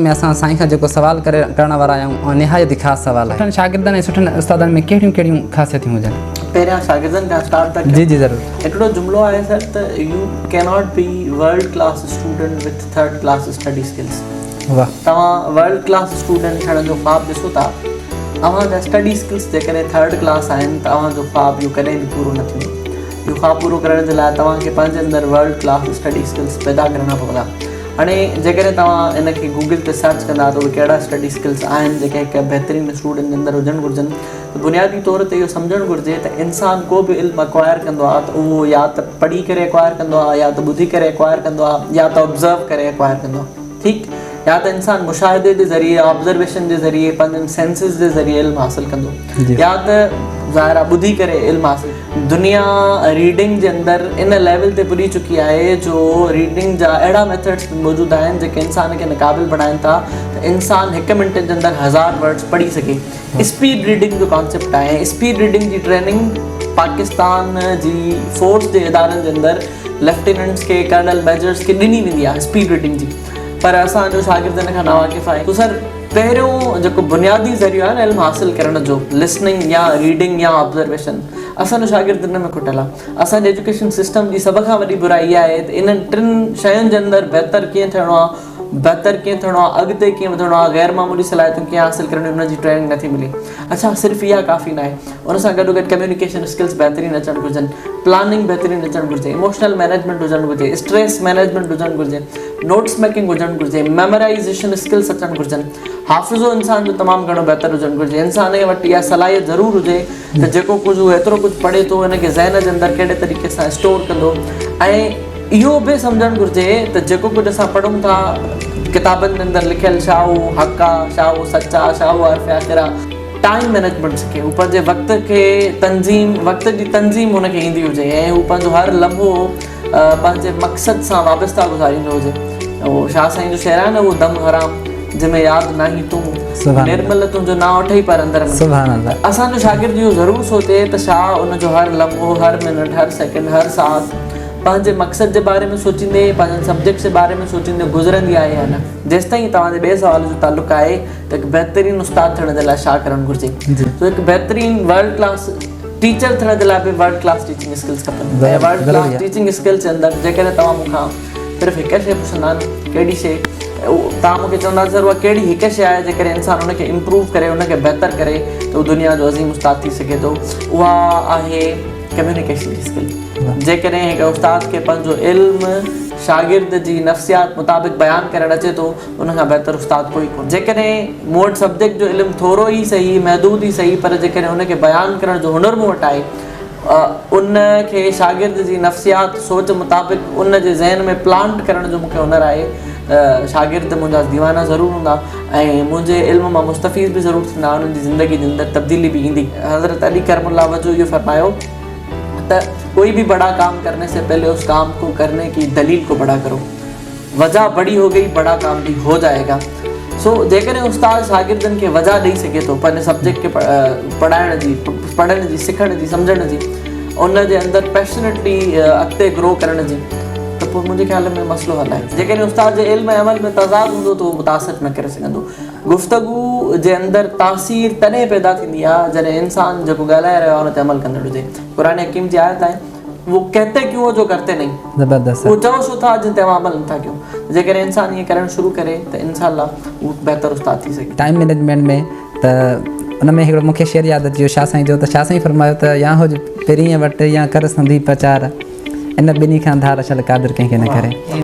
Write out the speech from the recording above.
۾ اسان سائين کان جيڪو سوال ڪرڻ وارا آهيون اهو نهايت ئي خاص سوال آهي. سٺن شاگردن ۽ سٺن استادن ۾ ڪهڙيون ڪهڙيون خاصيتون هجن؟ پهريان شاگردن کان اسٽارٽ ٿا ڪيون. جي جي ضرور. هڪڙو جملو آهي سر ته you cannot be world class student with third class study skills. واهه. توهان ورلڊ ڪلاس اسٽوڊنٽ ٺهڻ جو خواب ڏسو ٿا اوهان جا اسٽڊي اسڪلس جيڪڏهن ٿرڊ ڪلاس آهن ته اوهان جو خواب اهو ڪڏهن به پورو نه ٿيندو. اهو خواب پورو ڪرڻ جي لاء توهان کي پنهنجي اندر ورلڊ ڪلاس اسٽڊي اسڪلس پيدا ڪرڻا پوندا. هاڻي جيڪڏهن توهان ان کي گوگل تي سرچ ڪندا ته اهي ڪهڙا اسٽڊي اسڪلز آهن جيڪي هڪ بهترين اسٽوڊنٽ جي اندر هجڻ گهرجن ته بنيادي طور تي اهو سمجهڻ گهرجي ته انسان ڪو به علم اڪوائر ڪندو آهي ته اهو يا ته پڙهي ڪري اڪوائر ڪندو آهي يا ته ٻڌي ڪري اڪوائر ڪندو آهي يا ته ابزرو ڪري اڪوائر ڪندو آهي ٺيڪ يا ته انسان مشاهدي جي ذريعي آبزرويشن جي ذريعي پنهنجن سينسز جي ذريعي علم حاصل ڪندو يا ته ظاهر آ ٻڌي ڪري علم حاصل. دنيا ريڊنگ جي اندر ان ليول تي پڄي چڪي آهي جو ريڊنگ جا اهڙا ميٿڊز پڻ موجود آهن جيڪي انسان کي ان قابل بڻائن ٿا ته انسان هڪ منٽ جي اندر هزار ورڊز پڙهي سگهي اسپيڊ ريڊنگ جو ڪانسيپٽ آهي اسپيڊ ريڊنگ جي ٽريننگ پاڪستان جي فورس جي ادارن جي اندر ليفٽيننٽس کي ڪرنل ميجرز کي ڏني ويندي آهي اسپيڊ ريڊنگ جي پر اسان جو شاگرد ان کان ناواقف آهي تو سر پهريون جيڪو بنيادي ذريعو آهي نه علم حاصل ڪرڻ جو لسننگ يا ريڊنگ يا آبزرويشن اسان جو شاگرد ان ۾ کٽيل آهي اسان جي ايجوڪيشن سسٽم جي سڀ کان وڏي برائي اها آهي ته انهن ٽن شين جي اندر بهتر ڪيئن ٿيڻو آهي بهتر ڪيئن ٿيڻو آهي اڳتي ڪيئن وڌڻو آهي غير معمولي صلاحيتون ڪيئن حاصل ڪرڻ ان جي ٽريننگ نٿي ملي اڇا صرف اها ڪافي ناهي ان سان گڏو گڏ ڪميونيڪيشن اسڪلس بهترين اچڻ گهرجن پلاننگ بهترين اچڻ گهرجي اموشنل مينيجمنٽ هجڻ گهرجي اسٽريس مينيجمنٽ هجڻ گهرجي نوٽس ميڪنگ هجڻ گهرجي، ميمورائيزيشن اسڪلس اچڻ گهرجن، حافظو انسان جو تمام گهڻو بهتر هجڻ گهرجي، انسان وٽ اها صلاحيت ضرور هجي ته جيڪو ڪجهه هو ايترو ڪجهه پڙهي ٿو ان کي ذهن جي اندر ڪهڙي طريقي سان اسٽور ڪندو ۽ اهو به سمجهڻ گهرجي ته جيڪو ڪجهه اسان پڙهون ٿا ڪتابن جي اندر لکيل شاهه اهو حق آ شاهه اهو سچ آ شاهه اهو حرف آخر آ ٽائيم مينيجمينٽ سکي هو پنهنجي وقت کي تنظيم وقت جي تنظيم هن کي ايندي هجي ۽ هو پنهنجو هر لمحو پنهنجي مقصد سان وابسته گذاريندو هجي اهو شاهه سائين جو شعر آهي نه اهو دم حرام جنهن ۾ ياد ناهين تون نرمل تنهنجو نانء اٺئي پر اندر ۾ سبحان الله اسان جو شاگرد اهو ضرور سوچي ته شاهه ان جو هر لمحو هر منٽ هر سيڪنڊ هر ساهه پنهنجي مقصد جي باري ۾ سوچيندي پنهنجن سبجيڪٽس جي باري ۾ سوچيندي گذرندي آهي يا نه جيستائين توهان جي ٻئي سوال جو تعلق آهي ته هڪ بهترين استاد ٿيڻ جي لاء ڇا ڪرڻ گهرجي ته هڪ بهترين ورلڊ ڪلاس ٽيچر ٿيڻ جي لاء به ورلڊ ڪلاس ٽيچنگ اسڪلز کپن ۽ ورلڊ ڪلاس ٽيچنگ اسڪلز جي اندر جيڪڏهن توهان مون کان صرف هڪ شيء پڇندا ڪهڙي شيء توهان مون کي چوندا سر اها ڪهڙي هڪ شيء آهي جيڪڏهن انسان ان کي امپروو ڪري ان کي بهتر ڪري ته هو دنيا جو عظيم استاد ٿي سگهي ٿو اها آهي ڪميونيڪيشن جي اسڪل جيڪڏهن هڪ استاد کي پنهنجو علم شاگرد جي نفسيات مطابق بيان ڪرڻ اچي ٿو ان کان بهتر استاد ڪوئي ڪونه. جيڪڏهن مون وٽ سبجيڪٽ جو علم ٿورو ئي سهي، محدود ئي سهي پر جيڪڏهن ان کي بيان ڪرڻ جو هنر مون وٽ آهي، ان کي شاگرد جي نفسيات، سوچ مطابق ان جي ذهن ۾ پلانٽ ڪرڻ جو مون کي هنر آهي ته شاگرد منهنجا ديوانا ضرور هوندا ۽ منهنجي علم مان مستفيض به ضرور ٿيندا، انهن جي زندگي جي اندر تبديلي به ايندي. حضرت علي ڪرم الله وجهه اهو فرمايو ته ڪوئي به بڙا ڪام ڪرني سي پهلي اس ڪام ڪو ڪرني ڪي دليل ڪو بڙا ڪرو. وجا بڙي هو گئي بڙا ڪام ڀي هو جائي گا سو جيڪڏهن استاد شاگردن کي وجا ڏئي سگهي ٿو پنهنجي سبجيڪٽ کي پڙهائڻ جي پڙهڻ جي سکڻ جي سمجهڻ جي ان جي اندر پيشنيٽلي اڳتي گرو ڪرڻ جي ته پوء منهنجي خيال ۾ مسئلو حل آهي جيڪڏهن استاد جي علم ۽ عمل ۾ تضاد هوندو ته اهو متاثر نه ڪري سگهندو گفتگو جي اندر تاثير تڏهن پيدا ٿيندي آهي جڏهن انسان جيڪو ڳالهائي رهيو آهي ان تي عمل ڪندڙ هجي قرآن حڪيم جي آيت آهي وو ڪهتي ڪيون جو ڪرتي نهين. زبردست. اهو چئو ڇو ٿا جن تي اوهان عمل نٿا ڪيو. جيڪڏهن انسان ائين ڪرڻ شروع ڪري ته انشاء الله هو هڪ بهتر استاد ٿي سگهي ٿو. ٽائيم مينيجمينٽ ۾ ته ان ۾ هڪڙو مون کي شعر ياد اچي ويو شاهه سائين جو ته شاهه سائين فرمايو ته يا هج پرينء وٽ يا ڪر سنڌي پرچار ان ٻنهي کان ڌار ڇڏ قادر ڪنهن کي نه ڪري.